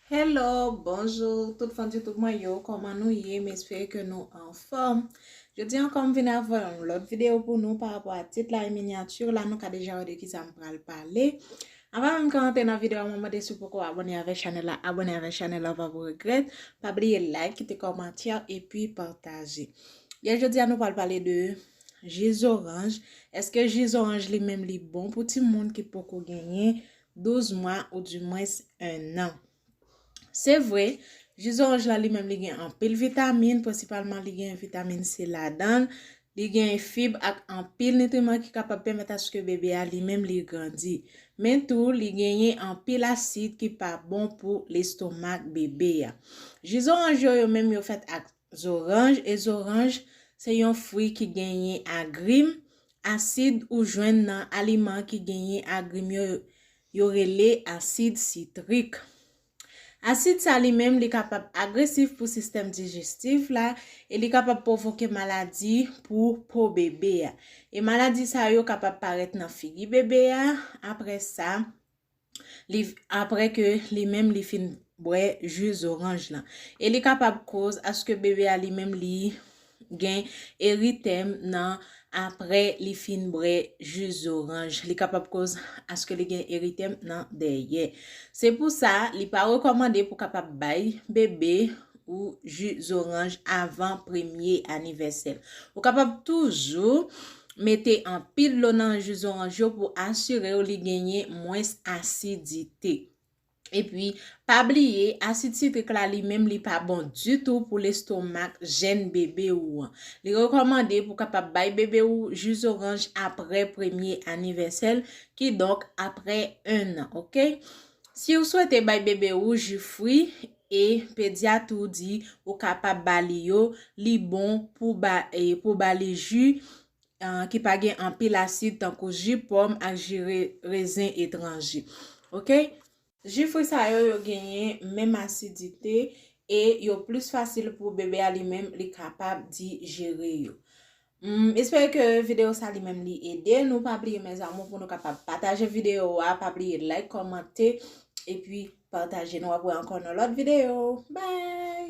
Hello bonjour tout fans YouTube mwen yo koman nou ye m espere ke nou anfom jodi ankò m vin avè yon lòt video pou nou pa rapò a tit la e miniature la nou ka deja wè de ki sa m pral pale avan menm ke m antre nan video a mwen mande si w poko abone avè chanèl la abone avè chanèl la ou pa pou regrèt pa bliye like kite kòmantè epi pataje yè jodi a nou pral pale de ji zoranj eske ji zoranj li menm li bon pou timoun ki poko genyen 12 mwa ou di mwens 1 an. Se vre, ji zoranj la li menm li gen anpil vitamin, prensipalman li gen vitamin C ladan l, li gen fib ak anpil nitriman ki kapab pèmèt aske bebe a li menm li grandi. Men tou, li genyen anpil asid ki pa bon pou lestomak bebe a. Ji zoranj yo yo menm yo fèt ak Zoranj e zoranj se yon fwi ki genyen agrim, asid ou jwenn nan aliman ki genyen agrim yo yo rele asid sitrik. Asid sa li menm li kapab agresif pou sistèm dijestif la e li kapab pwovoke maladi pou po bebe a. E maladi sa yo kapab parèt nan figi bebe a, aprè sa li apre ke li menm li fin bwè ju zoranj lan. E li kapab koz aske bebe a li menm li gen eritèm nan apre li fin bwè ju zoranj. Li kapab koz aske li gen eritèm nan dèyè. Se pou sa li pa rekòmande pou kapab bay bebe ou ju zoranj avan premye anivèsè l. Ou kapab toujou mete anpil dlo nan ju zoranj yo pou asire w li genyen mwens asidite. Epi, pa bliye, asid sitrik la li menm li pa bon ditou pou lestomak jenn bebe ou an. Li rekòmande pou kapab bay bebe ou ju zoranj apre premye anivèsè l, kidonk apre ennan, ok. Si ou swete bay bebe ou ju fwi, E pedyat ou di ou kapab ba li yo, li bon pou ba pou ba li ji ki pa gen anpil asid tankou ji pòm ak ji rezen etranje. Ok. Ji fwi sa yo yo genyen menm asidite e yo plis fasil pou bebe a li menm li kapab dijere yo. M espere ke video sa li menm li ede nou pa bliye mes amour pou nou kapab pataje video a pa bliye like komante epi pataje nou ap wè ankò nan lot video bye.